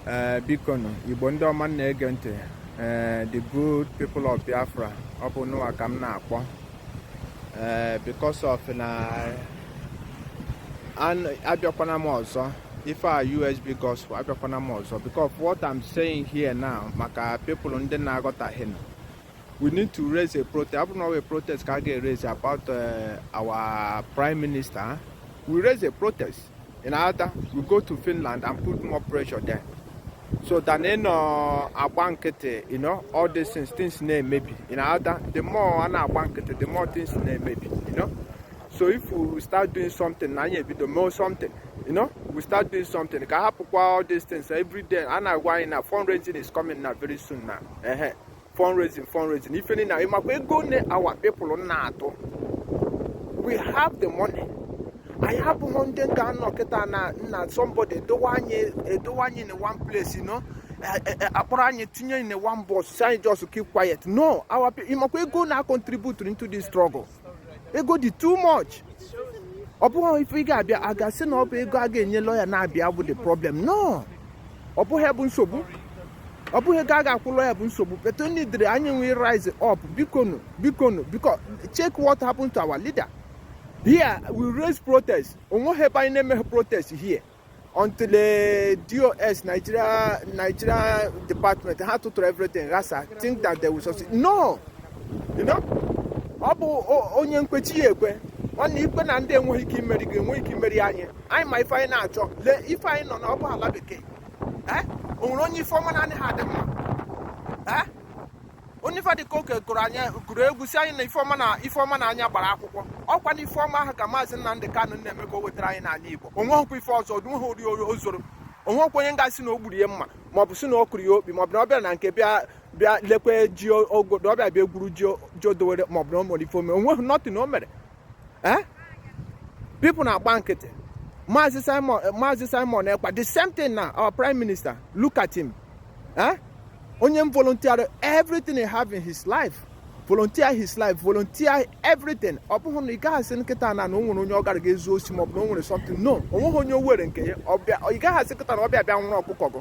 ee eh, biko nụ igbo ndị ọma na-ege ntị ee eh, the good people of biafra ọ bụ nụwa ka m na-akpọ ee eh, because of na abịakwana m ọzọ ife a usb gospel abịakwana m ọzọ because what i'm saying here now maka people ndị na-aghọtaghị nụ we need to raise a protest. ọ bụ na ọ wụ protest ka a ga-eraise about uh, our prime minister. We raise a protest. ị ghọta we go to Finland and put more pressure there so than ị nọ agba nkịtị you know all these things things na-emebi ị ghọta the more a na-agba nkịtị the more things na-emebi you know so if we start doing something na anyị ebido mee something you know we start doing something ka a hapụkwa all these things every day a na-agwa anyị na fundraising is coming na very soon na ehe fundraising fundraising ife niile ị makwa ego one our people na-atụ we have the money anyị abụghị ndị ga-anọ kịta na nna somebody edowe anyị edowe anyị in one place you know Eh, eh, eh, a kpọrọ anyị tinye in one bus sị anyị just keep quiet no ị makwa ego a na-acontribute into this struggle ego dị too much ọ bụghị ife ị ga-abịa a ga-asị na ọ bụ ego a ga-enye lọya na-abịa bụ the problem no ọ bụghị bụ nsogbu ọ bụghị ego a ga-akwụ lọya bụ nsogbu but only dịrị anyị we rise up bikonu bikonu biko check what happened to our leader here we raise protest onweghị ebe anyị na-emeghị protest here until the DOS Nigeria Nigeria department had to throw everything ghasa think that they will succeed no you know ọ bụ onye kwe chi ya ekwe nwanne ị kwe na ndị enweghị ike imeri gị enweghị ike imeri anyị anyị ma ife anyị na-achọ lee ife anyị nọ na ọ bụghị ala bekee eh? o nwere onye ife ọma na-adịghị adị mma eh? Oliver De Coque kụrụ anyị kụrụ egwu sị anyị na ife ọma na ife ọma na anya gbara akwụkwọ ọkwa na ife ọma ahụ ka maazị Nnamdi Kanụ na-eme ka o wetara anyị n'ala Igbo onweghịkwa ife ọzọ onweghị ori o zuru onwekwa onye ga-asị na o gburu ya mma maọbụ sị na ọ kụrụ ya okpi maọbụ na ọ bịara na nke bịa bịa lekwe ji ogodo ọ bịa bịa egwuru ji o dowere maọbụ na o mere ife ome onweghị nothing o mere eh? people na-agba nkịtị Maazị Simon eh, Maazị Simon Ekpa the same thing na our prime minister look at him eh? onye m volunteer everything he have in his life volunteer his life volunteer everything ọ bụghị na ị gaghị asị kịta na na o nwere onye ọ gara ga-ezu osi maọbụ na o nwere something no o nweghị onye o were nke ya ị gaghị asị kịta na ọ bịa bịa nwụrụ ọkụkọ gị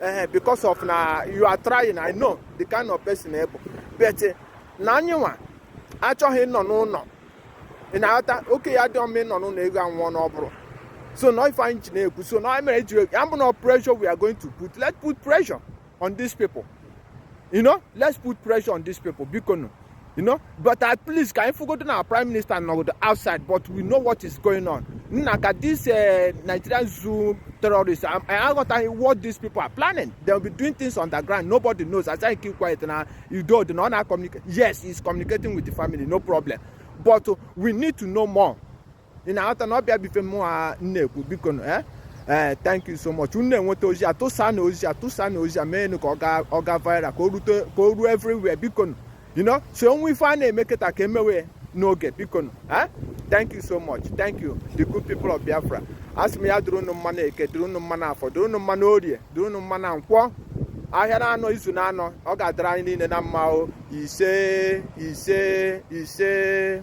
ee because of na you are trying i know the kind of person ị bụ but eh, na anyị nwa achọghị ịnọ n'ụlọ ị na-aghọta okenye adịghị anọ n'ụlọ eghu anwụọ n'ọgbụrụ so na ife anyị ji na-ekwu so na anyị mere ji ya bụ na pressure we are going to put let's put pressure on these people you know let's put pressure on these people biko nụ you know but at least ka anyị fụgodo na prime minister nọgodo outside but we know what is going on nna ka this uh, nigerian zoo terrorists i aghọtaghị what these people are planning they will be doing things on the ground nobody knows as i keep quiet na udo dị na ọ na-communicate yes he is communicating with the family no problem but we need to know more ị na-aghọta na ọ bụ ya bụ ife mụ a na-ekwu biko nụ eh? ee thank you so much unu na-enweta ozi a tụsa nụ ozi a tụsa nụ ozi a mee nụ ka ọ gaa ọ gaa viral ka o rute ka o ruo everywhere biko nụ you know so o nwee ife a na-eme kịta ka e mewe ya n'oge biko nụ eh? thank you so much thank you the good people of biafra asị m ya dịrị unu mma na eke dịrị unu mma na afọ dịrị unu mma na orie dịrị unu mma na nkwọ ahịa na anọ izu na anọ ọ ga-adịrị anyị niile na mma o ise ise ise